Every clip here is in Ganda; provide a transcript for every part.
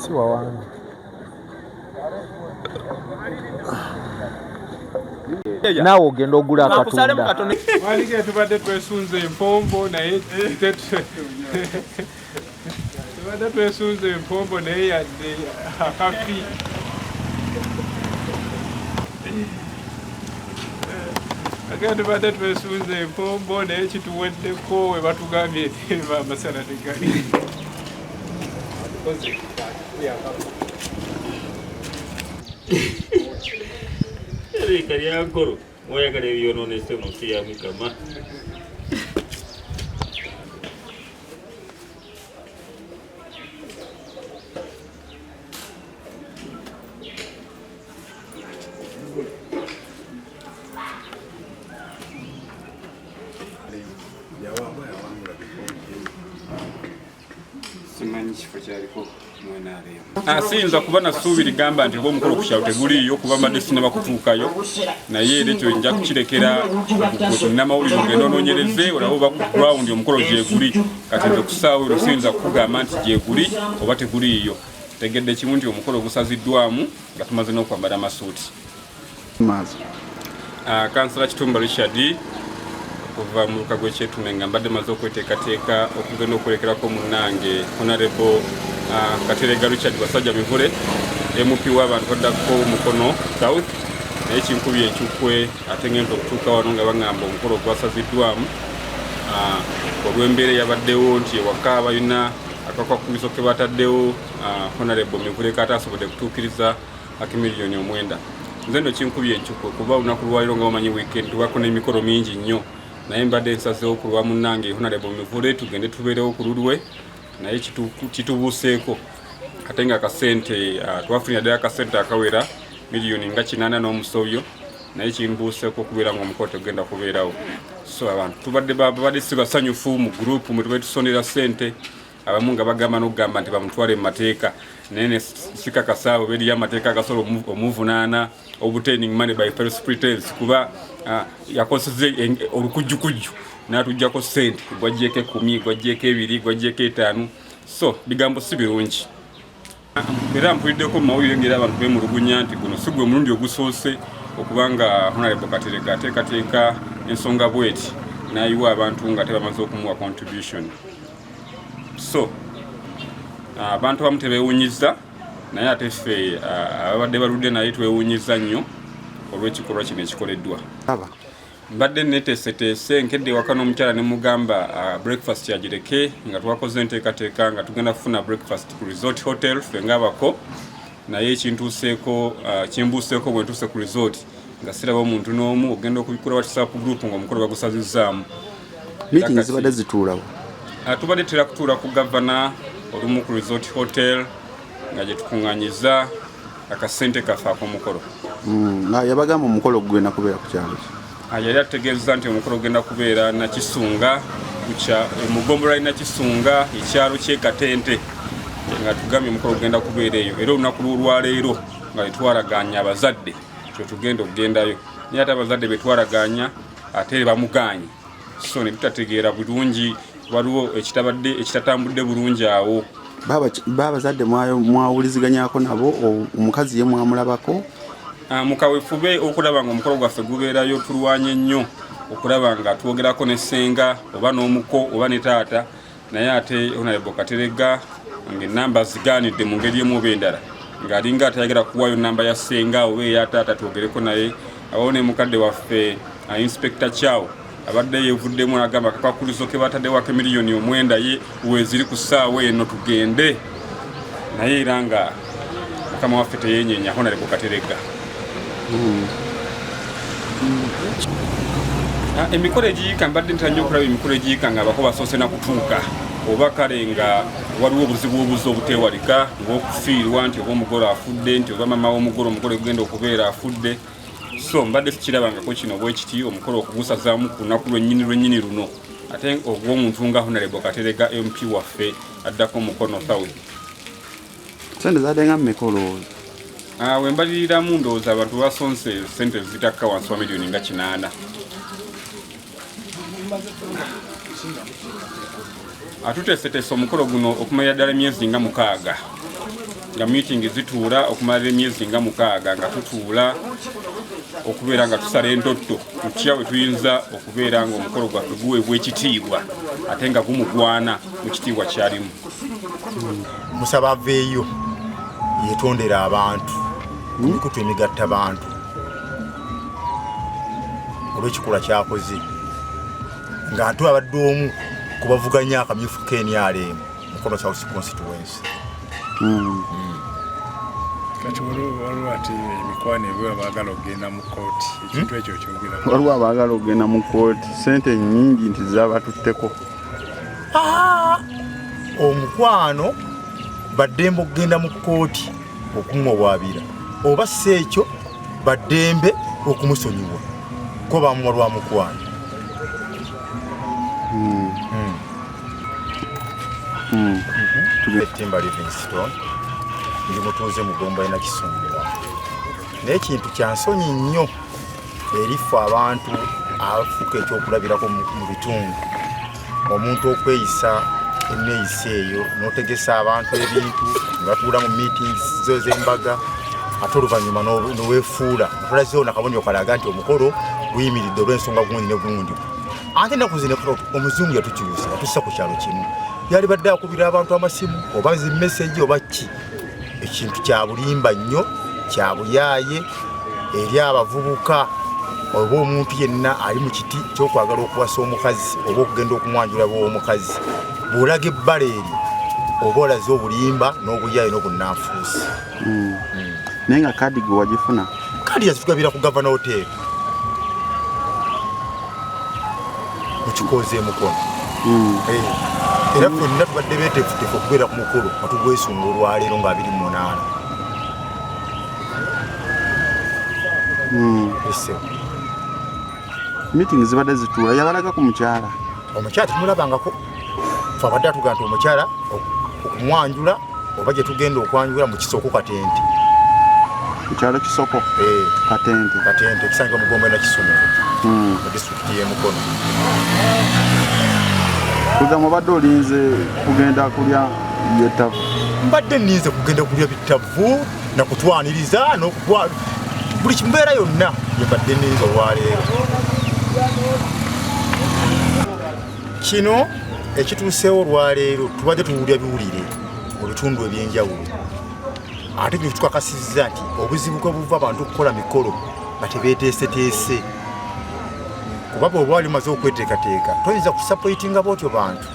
si wawange naawe ogenda ogula akatundawalike tubadde twesunze empombo naye tubadde twesunze empombo naye yadde akafi age tubadde twesunze empombo naye kituweddeko webatugambye Reka lyakoro mwayagala ebyononese mu nsi ya Mukama. simanyi kifo kyaliko asinza ah, kuba nasuubi ligamba nti oba omukolo ku kyalo teguliiyo kuba mbadde sinaba kutuukayo naye era ekyo nja kukirekera namawulire ogenda ononyereze olaba oba ku ground omukolo gyeguli kati nze kusaawo ero siyinza kukugamba nti gyeguli oba teguliiyo tegedde kimu nti omukolo gusaziddwamu nga tumaze n'okwambala amasuuti Ah, kansala Kitumba Richard okuva mu luka gw'ekyetume nga mbadde maze okweteekateeka okugenda okwerekerako munnange honarebo ah, katerega richard basajja mivule mp w'abantu baddako mukono south naye kinkubye enkikwe ate ngenda okutuuka wano nga baŋamba omukolo ogwasaziddwamu ah, olw'embeera eyabaddewo nti ewaka balina akakwakumizo ke bataddewo honarebo mivule kataasobodde kutuukiriza akimiliyoni omwenda nze no kinkubye encukwe kuba olunaku lwaliro nga bamanyi weekend wako n'emikolo mingi nnyo naye mbadde nsazeewo ku lwa munnange honarebo mivule tugende tubeerewo ku lulwe naye kitubuuseeko ate nga akasente ah, twafunira ddala akasente akawera miliyoni nga kinaana n'omusobyo naye kimbuuseeko okubeera nga omukolo tegenda kubeerawo so abantu tubadde babadde si basanyufu mu gurupu mwe tubadde tusondera sente abamu nga bagamba nokugamba nti bamutwale mu mateeka naye nesikakasa abo beriyo amateeka agasobola omuvunaana obtaining money by first pretense kuba uh, yakoseza olukujjukujju natujjako sente gwajjeko ekumi gwajjeko ebiri gwajjeko etaanu so bigambo si birungi Era mpuliddeko mu mawulire ng'era abantu bemulugunya nti guno si gwe mulundi ogusoose okuba nga Honorable Katerega ateekateeka ensonga bweti n'ayiwa abantu nga tebamaze okumuwa contribution so ah, abantu abamu tebewunyiza naye ate ffe ah, ababadde baludde naye twewunyiza nnyo olw'ekikolwa kino ekikoleddwa mbadde neteeseteese nkedde ewaka n'omukyala ne mugamba uh, breakfast yagireke nga twakoze enteekateeka nga tugenda kufuna breakfast ku resort hotel fe ngaabako naye ekintuuseeko uh, kimbuuseeko bwe ntuuse ku resort nga siraba omuntu n'omu ogenda okubikula whatsapp group nga omukolo bagusazizzaamu meeting zibadde zituulawo uh, tubadde tera kutuula ku gavana olumu ku resort hotel nga gye tukuŋŋanyiza akasente kaffe ak'omukolo hmm, nga yabagamba omukolo gugenda kubeera ku kyalo ah, yali ategeeza nti omukolo gugenda kubeera nakisunga eh, mu ggombolola li nakisunga ekyalo kyekatente eh, nga tugambye omukolo gugenda kubeera eyo era olunaku lw'olwaleero nga tetwaraganya abazadde kyetugenda okugendayo naye ate abazadde betwaraganya ate bamuganye so ne tutategeera bulungi waliwo ekitabadde ekitatambudde bulungi awo babazadde mwawuliziganyako nabo omukazi ye mwamulabako ah, mukawefube okulaba nga omukolo gwaffe gubeerayo tulwanye nnyo okulaba nga twogerako ne ssenga oba n'omuko oba ne taata naye ate honorable katerega ngaenamba zigaanidde mu ngeri emu oba endala ng'alinga atayagala kuwayo namba ya senga oba eya taata twogereko naye abawo ne mukadde waffe uh, inspector chow abadde yevuddemu nagamba akakwakkulizo ke bataddewo ake miliyoni omwenda ye weeziri ku ssaawa eno tugende naye era nga mukama waffe teyenyenya honare ku katerega hmm. ah, emikolo egiyika mbadde ntera nnyo okulaba emikolo egiyika nga abako basoose na kutuuka oba kale nga waliwo obuzibu obuzi obuteewalika ngaokufiirwa nti oba omugole afudde nti oba mama womugole omugole gugenda okubeera afudde so mbadde sikirabangako kino bwekiti omukolo okugusazaamu ku lunaku lwennyini lwennyini luno ate ogw'omuntu nga honalebo katerega mp waffe addako mukono south sente zadenga mmeka olowooza ah, wembaliriramu ndowooza abantu basonse sente zitakka wansi wa miliyoni nga kinaana atuteeseteese omukolo guno okumanya ddala emyezi nga mukaaga nga miitingi zituula okumalira emyezi nga mukaaga nga tutuula okubeera nga tusala endotto tutya we tuyinza okubeera nga omukolo gwaffe guweebwa ekitiibwa ate nga gumugwana mu kitiibwa kyalimu musaba aveeyo yetondera abantu emikutu emigatta bantu olwekikula kyakoze nga ntu abadde omu kubavuganya akamyufu kenialeemu Mukono South constituency. Mm. Mm. Kati waliwo ati emikwano ebyo abaagala okugenda mu kkooti ekintu hmm? ekyo kyogera. Waliwo abaagala okugenda mu kkooti sente nyingi nti zabatutteko. Ah! Omukwano baddembe okugenda mu kkooti okumuwawaabira oba si ekyo baddembe okumusonyiwa ko bamuwa lwa mukwano. Hmm. Hmm. Hmm. Timba Livingstone ndi mutuuze mu Gomba ena Kisumbuwa naye kintu kya nsonyi nnyo erifa abantu afuka ekyokulabirako mu bitundu omuntu okweyisa eneyisa eyo notegesa abantu ebintu nebatuula mu meetings zo zembaga ate oluvannyuma nowefuula nkola zona kabonero kalaga nti omukolo guyimiridde olwensonga gundi ne gundi ate naku zino omuzungu yatukyusa yatusa ku kyalo kimu yali badde akubira abantu amasimu oba nzi meseji oba ki ekintu kyabulimba nnyo kyabuyaye eri abavubuka oba omuntu yenna ali mu kiti kyokwagala okuwasa omukazi oba okugenda okumwanjula bwomukazi bwolaga ebbala eryo oba olaze obulimba n'obuyaye n'obunanfuusi hmm. hmm. naye nga kadi gwe wagifuna kadi yazitugabira ku gavana hoteeri mukikoze emukono hmm. eh, era fenna tubadde betefutefu okubeera ku mukulu atugwesunga olwaleero nga abiri munaana hmm. meeting zibadde zituula yabalaga ku mukyala omukyala tumulabangako fe abadde atuga nti omukyala okumwanjula oba gye tugenda okwanjula mu kisoko katente ekyalo kisoko eh. katente katente ekisangibwa mugombo na kisumu hmm. mu disitulikiti y'emukono kuza mubadde olinze kugenda kulya byetavu mbadde ninze kugenda kulya bitavu nakutwaniriza nokuwa buli kimbeera yonna yembadde ninze olwaleero Kino ekituuseewo olwaleero tubadde tuwulira biwulire mu bitundu eby'enjawulo ate kino kitukakasizza nti obuzibu kwe buva abantu okukola mikolo nga tebeeteeseteese kuba bweoba wali maze okweteekateeka toyinza kusapoitinga bootyo bantu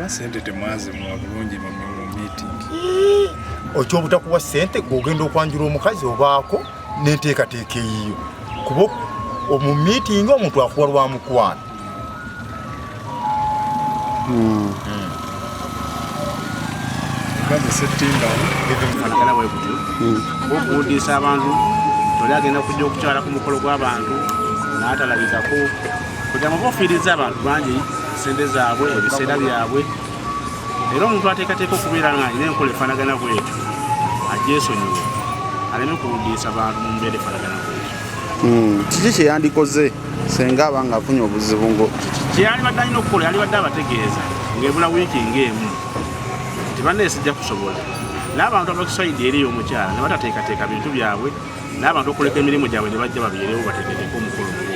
sente temwazimuwa bulungi mu miitingi okyobutakuwa sente gweogenda okwanjula omukazi obaako n'enteekateeka eyiyo kuba omu miitingi omuntu akuwa lwa mukwano hmm. hmm. okuwudiisa abantu toli agenda kujja okukyala ku mukolo gw'abantu n'atalabikako kugira muba ofiiriza abantu bangi sente zaabwe ebiseera byabwe era omuntu ateekateeka okubeera nga alina enkola efaanagana bwetyo agyesonyiwe aleme kuwudiisa bantu mu mbeera efaanagana bwetyo hmm, kiki kyeyandikoze senga aba nga afunye obuzibu ngo kyeyalibadde alina okukola yalibadde abategeeza ngaebula wiiki ngaemu nti bannaye sijja kusobola n'abantu abakisayidi eri omukyala ne batateekateeka bintu byabwe n'abantu okuleka emirimu gyabwe ne bajja babeerewo bategekeeko omukolo mugo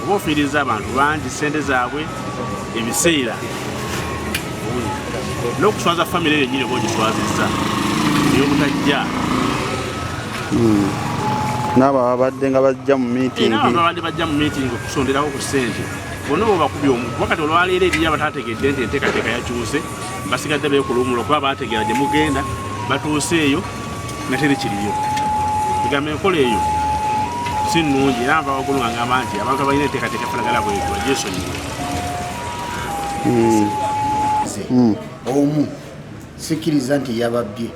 oba ofiiriza abantu bangi ssente zaabwe ebiseera n'okuswaza famire eyo nyini oba ogiswazizza eyobutajja hmm. naabo ababadde nga bajja mu mitingbabadde eh, bajja mu miiting okusonderawo ku ssente bonna bwebakubya omu kuba kati olwaleero eriyo abatategedde nti enteekateeka yakyuse basigadde beekulumula okuba baategeera gye mugenda batuuse eyo natere kiriyo egamba enkola eyo si nnungi era nva waggulu nga ngamba nti abantu abalina enteekateeka efanagala bwetu bagyesonyiwe hmm. hmm. omu sikkiriza nti yababbye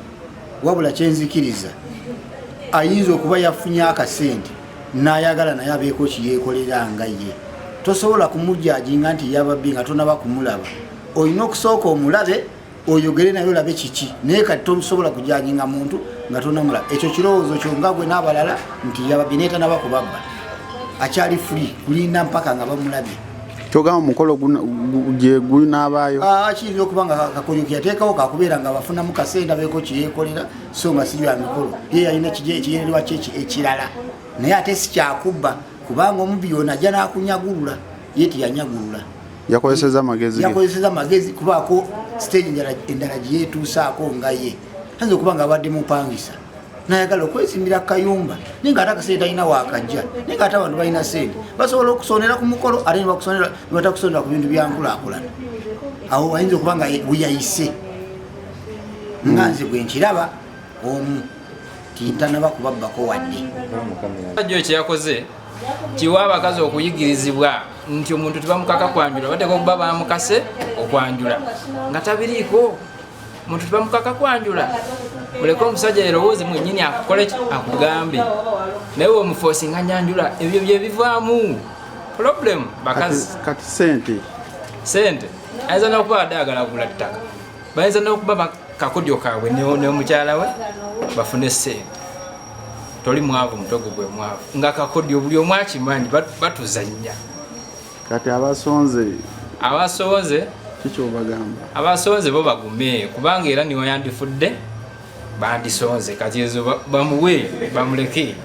wabula kyenzikiriza ayinza okuba yafunye akasente nayagala naye abeeko kiyekolera nga ye tosobola kumujajinga nti yababbye nga tonaba kumulaba olina okusooka omulabe oyogere naye olabe kiki naye kati tosobola kujajinga muntu nga tonamula ekyo kirowoozo kyo nga gwe n'abalala nti yababye naye tanaba kubabba akyali free kulinda mpaka nga bamulabye kyogamba omukolo gye gunaabaayo ah, kiyinza okuba nga kakonyo keyateekawo kakubeera nga bafunamu kasenda beeko kyeyekolera so nga sibya mikolo ye yalina ekigendererwa kye ekirala naye ate sikyakubba kubanga omubbi yona ajja n'akunyagulula ye tiyanyagulula yakozeseza amagezi yakozeseza amagezi kubaako siteegi endala gye yeetuusaako nga ye ayinza okuba nga abadde mupangisa nayagala okwezimbira kayumba naye nga ate akasente talina wakajja naye nga ate abantu balina sente basobola okusonera ku mukolo ate nebatakusonera ku bintu byankulakulana awo ayinza okuba nga weyayise nga nze gwe nkiraba omu tintanaba kubabbako wadde ekyeyakoze kiwa abakazi okuyigirizibwa nti omuntu tebamukaka kwanjula bateka okuba bamukase okwanjula nga tabiriiko omuntu tebamukaka kwanjula muleke omusajja yerowooze mwenyini akukole akugambe naye wemufosi nga nyanjula ebyo byebivaamu problem bakazi kati sente sente ayinza nokuba ade agala kugula ttaka bayinza nokuba kakodyo kaabwe neomukyala we bafune sente toli mwavu mutogo gwe mwavu nga kakodyo buli omu akimanyi batuzannya kati abasonze abasonze kikyobagamba abasonze bo bagume kubanga era niwe yandifudde bandisonze kati ezo bamuwe bamuleke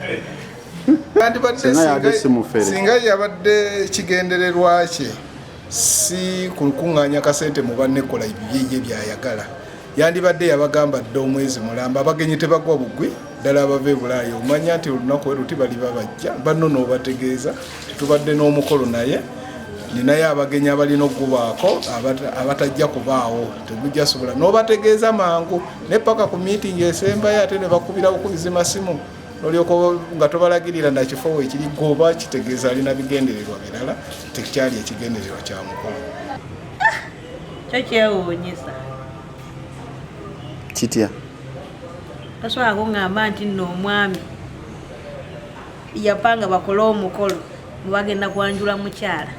singa yabadde kigendererwa kye si ku lukuŋŋaanya kasente mu banne kola ebibyeye byayagala yandibadde yabagamba dda omwezi mulamba abagenyi tebagwa bugwi ddala abava ebulaaya omanya nti olunaku we luti baliba bajja banno n'obategeeza tetubadde n'omukolo naye ninayo abagenyi abalina okugubaako abatajja kubaawo tegujja sobola n'obategeeza mangu naye paka ku miitingi esembayo ate ne bakubira bukubizi masimu nolyoka nga tobalagirira nakifo wekiri goba kitegeeza alina bigendererwa birala tekyali ekigendererwa kya mukulu ah, kyo kyewuunyisa kitya tasobola kungamba nti nno omwami yapanga bakole omukolo mubagenda kwanjula mukyala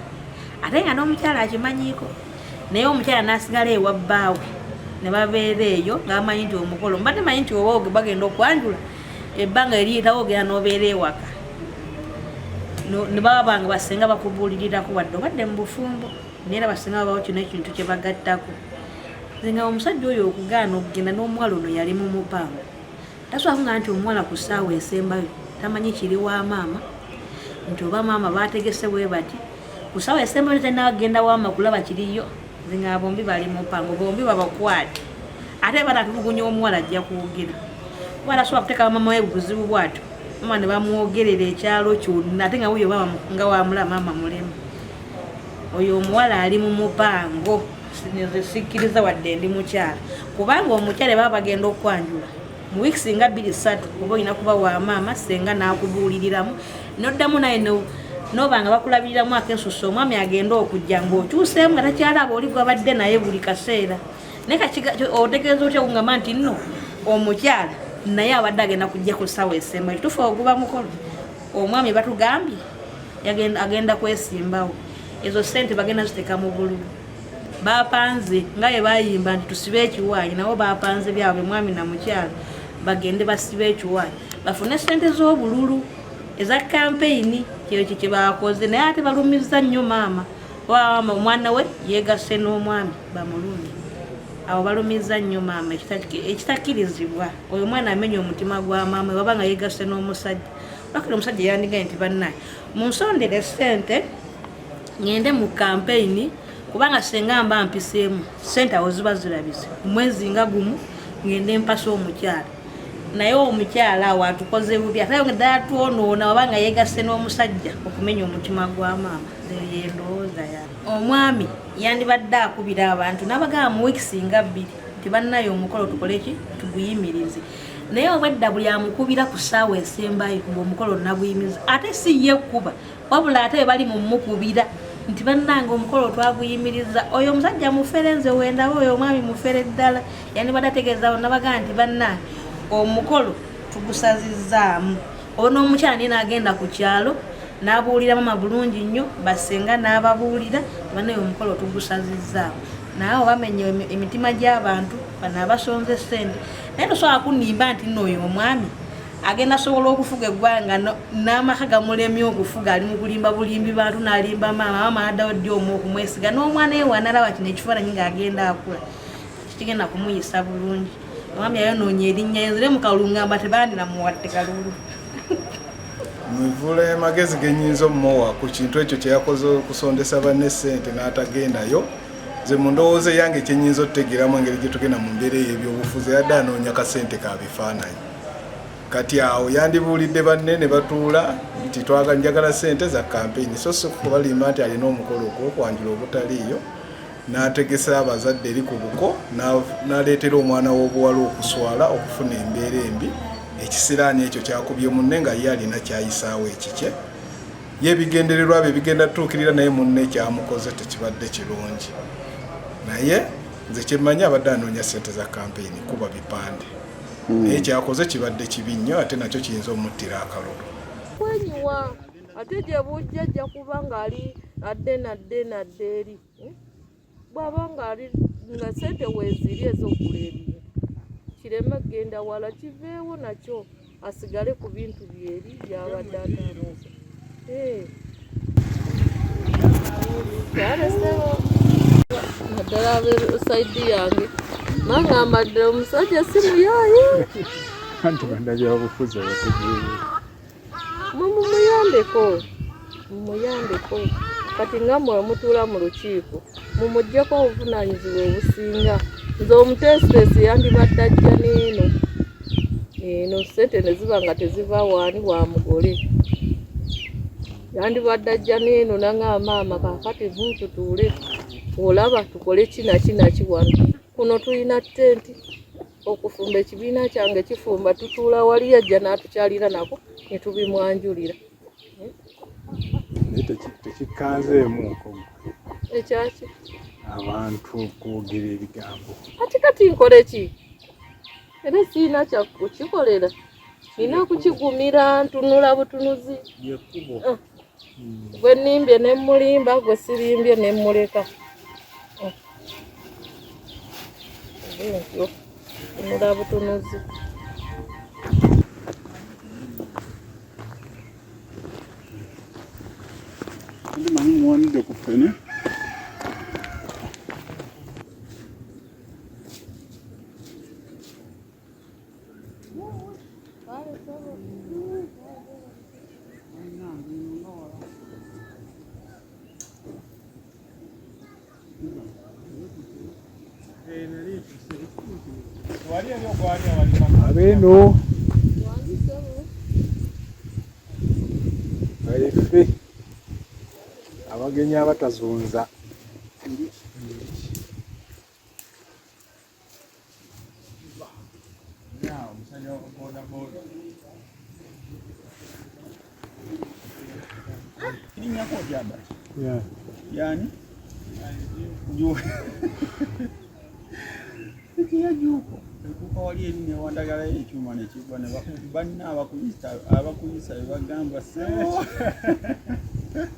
ate nga n'omukyala akimanyiiko naye omukyala nasigala ewa bbaawe ne babeera eyo ngaamanyi nti omukolo mbadde manyi nti oba bagenda okwanjula ebbanga eriyitawo ogenda nobeera ewaka nebaba bange basinga bakubuulirirako wadde obadde mu bufumbo naye era basinga babawo kino ekintu kye bagattako nze nga omusajja oyo okugaana okugenda n'omuwala ono yali mu mupango taswala kugamba nti omuwala ku ssaawa esembayo tamanyi kiri wa maama nti oba maama baategese bwe bati ku ssaawa esembayo tenagenda wama kulaba kiriyo zinga bombi bali mu mpango bombi babakwate ate batatulugunya omuwala ajja kwogera kuba tasobola kuteeka maama we buzibu bwatyo maama ne bamwogerera ekyalo kyonna ate nga wuyo nga wamula maama mulema oyo omuwala ali mu mupango nze sikkiriza wadde ndi mukyala kubanga omukyala baba bagenda okwanjula mu wiikisi nga bbiri ssatu oba olina kuba wa maama senga n'akubuuliriramu noddamu naye noba nga bakulabiriramu akesusa omwami agenda okujja ngaokyuseemu nga takyalaaba oli gwabadde naye buli kaseera naye otegeeza otya kungamba nti nno omukyala naye abadde agenda kujja ku ssaawa esemba ekitufu oguba mukolo omwami batugambye agenda kwesimbawo ezo sente bagenda ziteka mu bululu bapanze nga bye bayimba nti tusibe ekiwaayi nabo bapanze byabwe mwami na mukyala bagende basibe ekiwaayi bafune sente z'obululu eza kampeyini kyeyo kye kyebakoze naye ate balumizza nnyo maama wawama omwana we yegasse n'omwami bamulungi abo balumizza nnyo maama ekitakirizibwa oyo omwana amenya omutima gwa maama waba nga yegasse n'omusajja bakira omusajja yandigaye nti bannaye munsondere sente ngende mu kampeyini kubanga senga mba mpiseemu sente awo ziba zirabise omwezi nga gumu ngende mpasa omukyala naye omukyala awo atukoze bubi ate ddala twonoona oba nga yegasse n'omusajja okumenya omutima gwa maama yendowooza ya omwami yandibadde akubira abantu nabagaba mu wiikisi nga bbiri nti bannayo omukolo tukoleki tuguyimirize naye obwedda buli amukubira ku ssaawa esembayo ngaomukolo naguyimiza ate si ye kuba wabula ate bebali mumukubira nti bannange omukolo twaguyimiriza oyo omusajja mufere nze wendaba oyo omwami mufere ddala yanibadde ategeezaawo nabagaa nti bannange omukolo tugusazizaamu oba n'omukyala naye naagenda ku kyalo n'abuulira mama bulungi nnyo basenga n'ababuulira banaye omukolo tugusazizaamu naye obamenya emitima gy'abantu bano abasonze sente naye tosobola kunimba nti nooyo omwami agenda sobola okufuga eggwanga n'amaka gamulemye okufuga ali mukulimba bulimbi bantu nalimba maama maama addawo ddi omu okumwesiga n'omwana ewe analaba kino ekifaananyi ng'agenda akula kigenda kumuyisa bulungi omwami ayonoonya erinnya enzire mukalungamba tebandira muwadde kalulu muvule magezi genyinza omuwa ku kintu ekyo kyeyakoze okusondesa banne sente n'atagendayo nze mu ndowooza eyange kyenyinza otutegeeramu engeri gyetugenda mu mbeera eyo ebyobufuzi yadde anoonya kasente ka bifaananyi kati awo yandibuulidde banne ne batuula nti twaga njagala sente za kampeyini so si kubalimba nti alina omukolo ogwokwanjula obutaliiyo n'ategesa abazadde eri ku buko n'aleetera omwana w'obuwala okuswala okufuna embeera embi ekisiraani ekyo kyakubye munne nga ye alina kyayisaawo ekikye ye ebigendererwa bye bigenda tuukirira naye munne ekyamukoze tekibadde kirungi naye nze kyemmanyi abadde anoonya ssente za kampeyini kuba bipande hmm. naye kyakoze kibadde kibi nnyo ate nakyo kiyinza omuttira akalulu kwenyiwa ate gye bujja ajja kuba ng'ali adde nadde nadde eri hmm? bwaba nga ali nga sente weziri ezokula ebintu kireme kugenda wala kiveewo nakyo asigale ku bintu byeri byabadde atanoza eh. naddala abesaidi yange nangamba ddala omusajja simuyayi anti banabyabufuzi abategeere mumuyambeko mumuyambeko kati nga mwe mutuula mu lukiiko mumugyeko obuvunaanyizibwa obusinga nze omuteesiteesi yandibadde ajja neeno eno sente ne ziba nga teziva waani wa mugole yandibadde ajja neeno nanga maama kakati ntutuule olaba tukole kinakinaki wano kuno tulina tenti okufumba ekibiina kyange kifumba tutuula wali ajja n'atukyalira nako ne tubimwanjulira naye tekikanzeemu nkomo ekyaki abantu okwogera ebigambo ati kati nkole ki era siina kyakukikolera nina kukigumira ntunula butunuzi yekubo ah. gwe nimbye ne mulimba gwe sirimbye ne muleka tunula butunuzi manyi muwanidde ku ffene Abeno baife abagenyi abatazunza Yani juu ya juu ekuka wali erinnya wandagalayo ekyuma nekigwa banna abakuyisa abakuyisa bebagamba sebo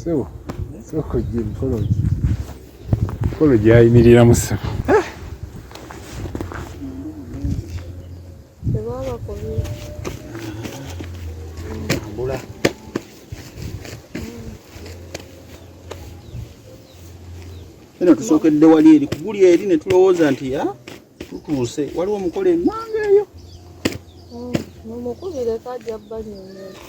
sebo soko gye mikolo gye mikolo gyayimiriramu sebo eno tusookedde wali eri kuguli eri ne tulowooza nti ya tutuuse waliwo omukola emanga eyo oh, mumukubire kajja banyonyola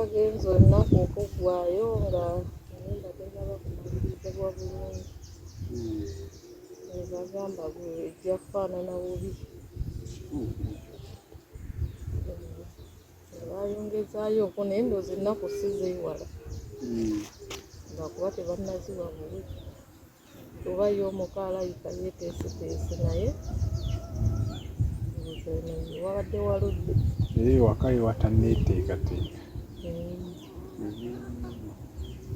agenze olunaku okuggwayo nga naye nga tenaba kumaliriza bwa bulungi hmm. Nebagamba gwe ejja kufaanana bubi. Nebayongezaayooko naye ndowooza ennaku si zeewala lwakuba tebannaziwa bubi kuba ye omuko alabika yeeteeseteese naye ndowooza eno wabadde waludde. Naye ewaka we watanneeteekateeka.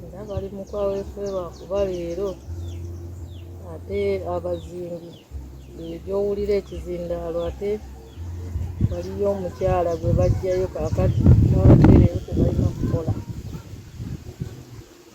era bali mu kaweefube lwakuba leero ate abazingi gyowulira ekizindaalo ate waliyo omukyala gwe bajjayo kakati nabatereyo tebalina kukola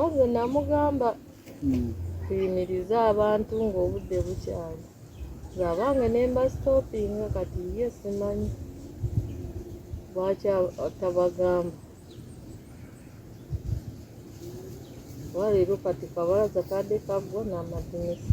oze namugamba hmm. tuyimirize abantu ng'obudde bukyali zabange nemba stopinga kati ye simanyi lwaki atabagamba waleero kati kabalaza kadde kaggwa n'amadinisa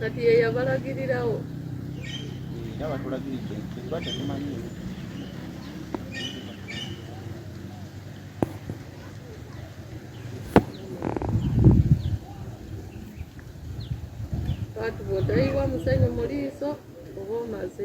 kati ye yabalagirirawo era batulagiridde tuba tetumanyi watu bodayiwa musene mu liiso oba omaze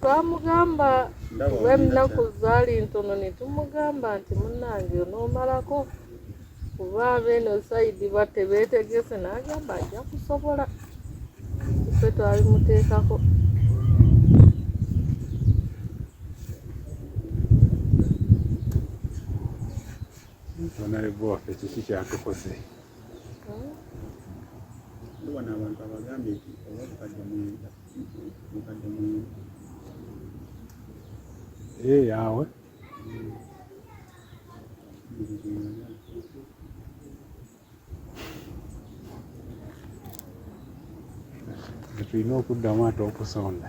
twamugamba kuba ennaku zaali ntono ne tumugamba nti munnange onoomalako kuba abeeno sayidi batebeetegese n'agamba ajja kusobola ffe twalimuteekako Honorable Waffe kiki kyatukoze wano abantu abagambye nti oba bukadde mwenda bukadde mwenda ee eh, yawe tulina okuddamu ate okusonda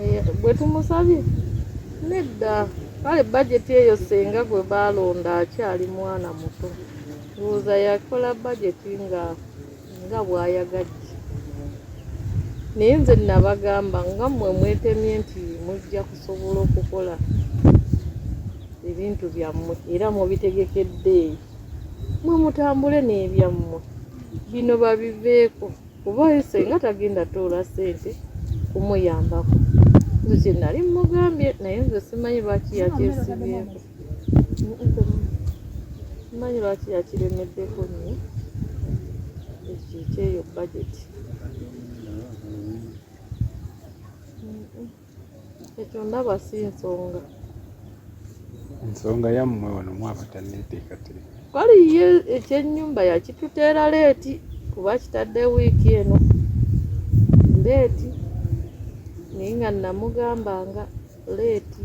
eh, bwe tumusabye nedda kale bajeti eyo senga gwe baalonda akyali mwana muto ndowooza yakola bajeti nga nga bwayagadde naye nze nabagamba nga mmwe mwetemye nti mujja kusobola okukola ebintu byammwe era mubitegekedde eyo mwe mutambule n'ebyammwe bino babiveeko kuba ye senga tagenda toola sente kumuyambako nze kyenali mugambye naye nze simanyi lwaki yakyesibyeko manyi lwaki yakiremeddeko nyo ekikyeyo bajeti ekyo ndaba si nsonga ensonga yammwe wano mwaba tanneeteekateeka kale ye ekyennyumba yakituteera leeti kuba kitadde wiiki eno leeti naye nga namugamba nga leeti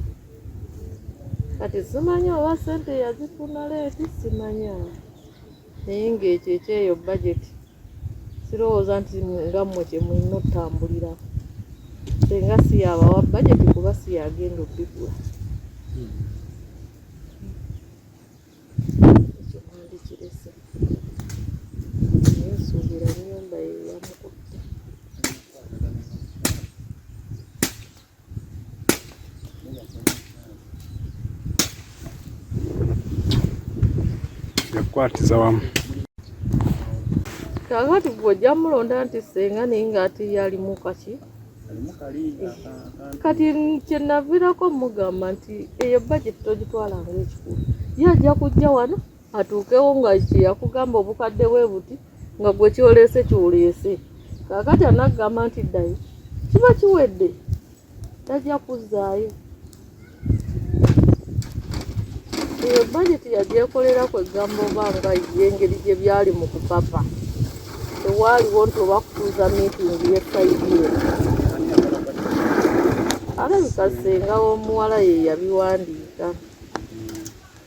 kati simanya oba sente yazifuna leeti simanya naye ng'ekyo ekyeyo bajeti sirowooza nti nga mmwe kye mulina otutambulira senga si yabawa bajeti kuba si yagenda obigula ekyo mwandikirese naye nsuubira nyumba yeyamukutte yakukwatiza wamu kakati gwe ojja mulonda nti senga naye nga ate ye alimu kaki kati kyenavirako mugamba nti eyo bajeti togitwala ngaekikulu ye ajja kujja wano atuukewo nga kyeyakugamba obukadde bwe buti nga gwe kyoleese kyoleese kakati anakugamba nti ddayo kiba kiwedde tajja kuzzaayo eyo bajeti yagyekolera ku egamba oba nga ye engeri gye byali mu kupapa tewaaliwo nti oba kutuuza miitingi yesayidi eno alabika ssenga w'omuwala ye yabiwandiika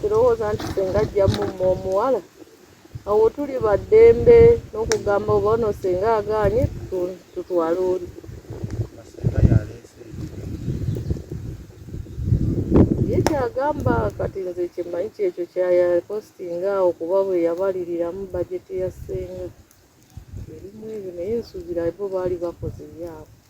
kirowooza nti senga ajja mumma omuwala awo tuli baddembe n'okugamba oba ono senga agaanye tutwale oli ye kyagamba kati nze kyemanyi kyekyo kyayapostinga awo kuba bwe yabaliriramu bajeti ya senga erimu ebyo naye nsuubira bo baali bakoze ebyabwe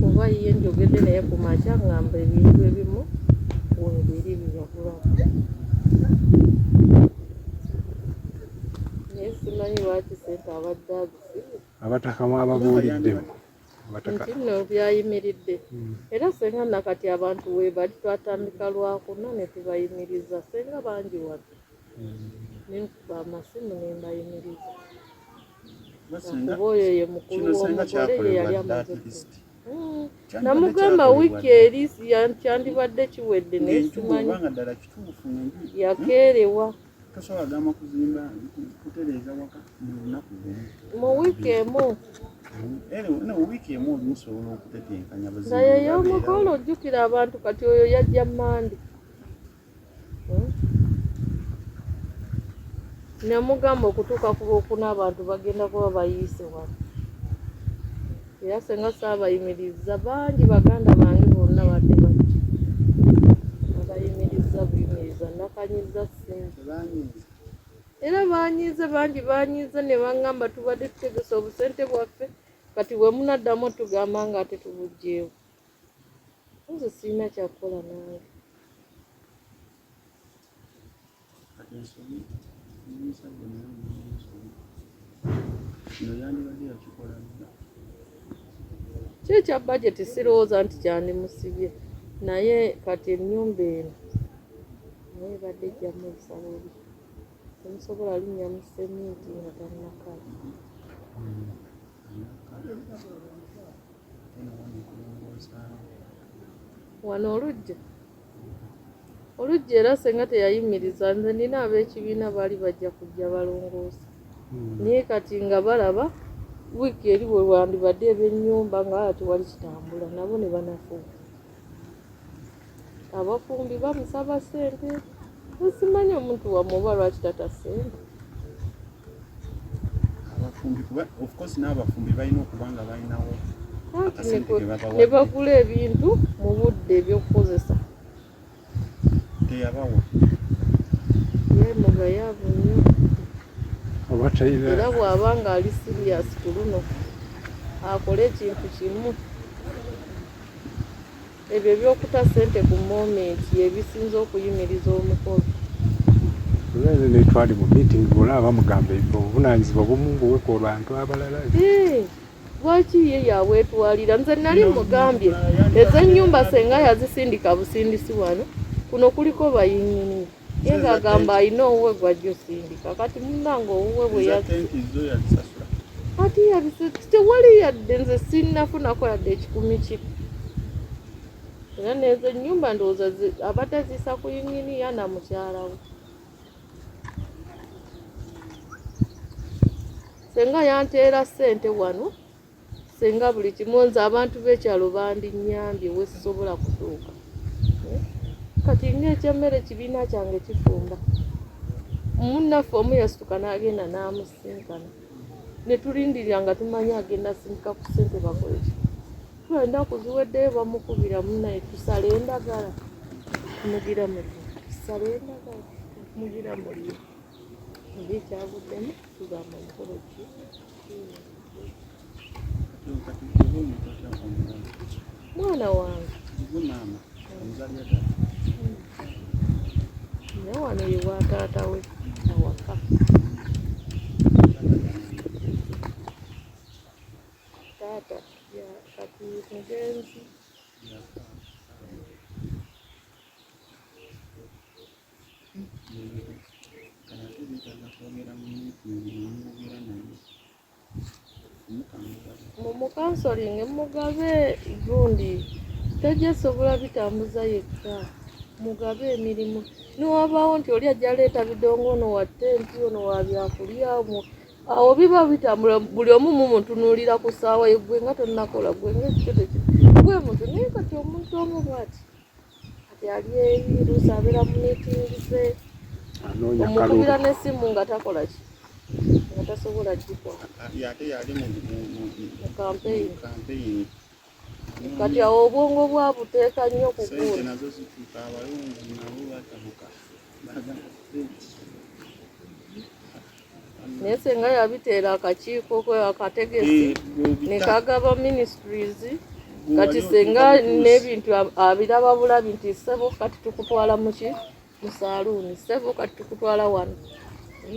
kuba ye njogedde naye ku makya ngamba ebintu ebimu webiri biyagulamu naye simanyi lwaki sente abadde azisimu abataka mwababuuliddemu ntinno byayimiridde hmm. era senga nakati abantu webali twatandika lwakuna netubayimiriza senga bangi watu nenkuba amasimu nembayimiriza oyo ye mukulu w'omugole ye yali amaze hmm. namugamba wiiki eri kyandibadde kiwedde nesimanyi yakeerewa mu wiiki emu naye y'omugole ojjukira abantu kati oyo yajja mande namugamba okutuuka ku lwokuna abantu bagenda kuba bayiise wano era senga saabayimiriza bangi baganda bange bonna badde bati abayimiriza buyimiriza nakanyiza sente era banyiize bangi banyiize ne bangamba tubadde tutegesa obusente bwaffe kati bwe munaddamu tugamba nga ate tubugyewo nze sirina kyakukola nange kyo ekya bajeti sirowooza nti kyandimusibye naye kati ennyumba eno naye ebadde ejjamu ebisala ebi temusobola linnya mu seminti nga tannakala wano olujja olujja era senga teyayimiriza nze nina ab'ekibiina baali bajja kujja balongoosa hmm. naye kati nga balaba wiiki eri wewandibadde ebyennyumba nga tewali kitambula nabo ne banafuuka abafumbi bamusaba sente nsimanyi omuntu wamwe oba lwaki tata sente abafumbi kuba of course n'abafumbi balina okuba nga balinawo ne bagula ebintu mu budde ebyokukozesa teyabawa yemugayaavu nnyo era bw'aba ng'ali siriyasi ku luno akole ekintu kimu Ebyo eby'okuta ssente ku momenti ye bisinze okuyimiriza omukolo. Nze ne twali mu meeting bola bamugamba obuvunanyizibwa bumu buwe ku bantu abalala. Lwaki ye yabwetwalira? Nze nali mugambye ez'ennyumba senga yazisindika busindisi wano kuno kuliko bayinyini. Ye ng'agamba alina owuwe gw'ajja osindika kati munnange owuwe bwe ati yabise tewali yadde nze sinnafunako yadde ekikumi kye era nezo ennyumba ndowooza abadde aziisa ku yinginiya na mukyala we senga yanteera ssente wano senga buli kimu nze abantu b'ekyalo bandinyambye wesisobola kutuuka eh? kati ng'ekyemmere kibiina kyange kifumba munnaffe omu yasituka n'agenda n'amusinkana ne tulindirira nga tumanyi agenda sindika ku ssente bakoleki tula ennaku ziweddeyo bamukubira munaye tusala endagala mugira muli tusala endagala mugira muli naye ekyavuddemu tugamba mukolo ki mwana wange ne wano ye wa taata we awaka taata kati mugenzi mumukansolinge mugabe gundi tajja sobola bitambuza yekka mugabe emirimu niwabaawo nti oli ajja leeta bidongo ono wa tenti ono wa byakulya awo biba bitambula buli omu mumutunuulira ku ssaawa ye gwe nga tonakola gwe ngaekikyo tekyo gwe muntu naye kati omuntu omu bwati kati ali eri luusi abeera mu miitingi ze omukubira n'essimu nga takola ki nga tasobola kikola ate yali mu kampeyini kati awo obwongo bwabuteeka nnyo kukuula nazo zituuka abalungi nabo batabuka naye senga yabiteera akakiiko kwe akategesi eh, nekagaba ministries kati senga n'ebintu abiraba bulabi nti sebo kati tukutwala muki mu saluuni sebo kati tukutwala wano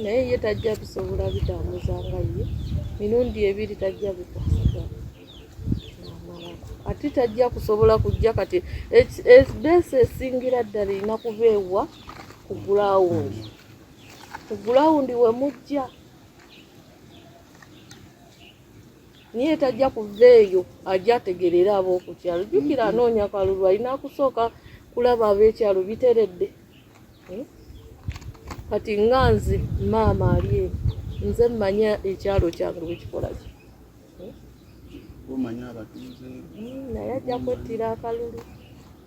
naye ye tajja bisobola bitambuza nga ye mirundi ebiri tajja bikwasiga ate tajja kusobola kujja kati ebeesa esingira ddala erina kubeewa ku gulawundi ku gulawundi we mujja niye tajja kuva eyo ajja ategerera ab'okukyalo jjukira mm-hmm. anoonya kalulu alina kusooka kulaba ab'ekyalo biteredde hmm? kati nga nze maama ali eyo nze mmanya ekyalo kyange bwekikola ki hmm? hmm, naye ajja kwettira akalulu